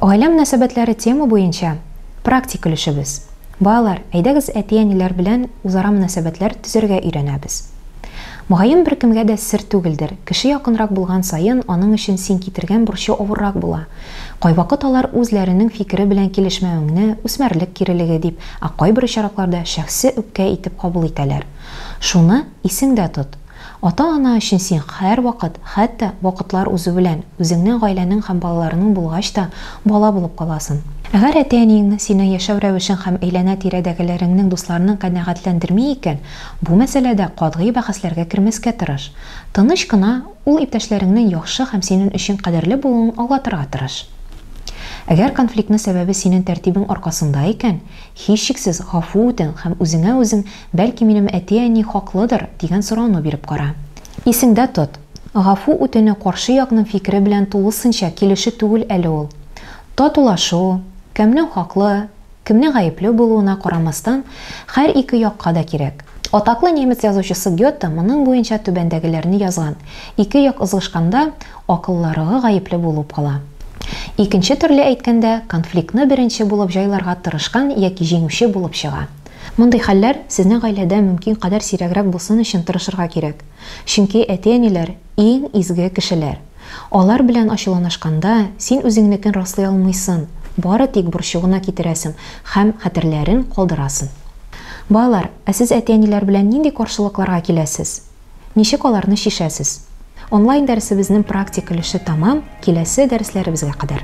Гаилә мөнәсәбәтләре тема буенча практик өлешебез. Балалар, әйдәгез әти-әниләр белән үзара мөнәсәбәтләр төзергә өйрәнәбез. Мөгаен беркемгә дә сер түгелдер, кеше якынрак булган саен аның өчен син китергән бурчы авыррак була. Кайвакыт алар үзләренең фикере белән килешмәвеңне, үсмерлек кирелеге дип, Ә кайбер очракларда шәхси үпкә итеп кабул итәләр. Шуны исеңдә тот, ата-ана өчен син һәрвакыт, хәтта вакытлар узу белән, үзеңнең гаиләнең һәм балаларының булгач та, бала булып каласың. Әгәр әти-әниеңнең синең яшәү рәвешең һәм әйләнә-тирәдәгеләреңнең дусларының канәгатьләндерми икән, бу мәсьәләдә катгый бәхәсләргә кермәскә тырыш. Тыныч кына Ул иптәшләреңнең яхшы һәм синен өчен кадерле булуын аңлатырга тырыш. Әгәр конфликтны сәбәбе синен тәртибең аркасында икән, һичшиксез гафу үтен һәм үзеңә үзең, бәлки минем әти-әни хаклыдыр, дигән сорауны биреп кара. Исеңдә тот, гафу үтенү каршы якның фикере белән тулысынча килешү түгел әле ул. Татулашу, кемнең хаклы, Кемне гаепләү булуына карамастан, хәр ике якка да кирәк. Атаклы немец язучысы Гёте моның буенча түбәндәгеләрне язган, Ике як ызгышканда, акылларыгы гаепле булып кала. Икенче төрле әйткәндә, конфликтны беренче булып җайларга тырышкан яки җиңүче булып чыга. Мондый хәлләр сезнең гаиләдә мөмкин кадәр сирәгрәк булсын өчен тырышырга кирәк. Чөнки әти-әниләр, иң изге кешеләр. Алар белән ачуланашканда, син үзеңнекен раслый алмыйсын, бары тик борчу гына китерәсен һәм хәтерләрен калдырасын. Балалар, ә сез әти-әниләр белән нинди каршылыкларга киләсез? Ничек аларны чишәсез? Онлайн дәресебезнен практик өлеше тәмам, киләсе дәресләребезгә кадәр.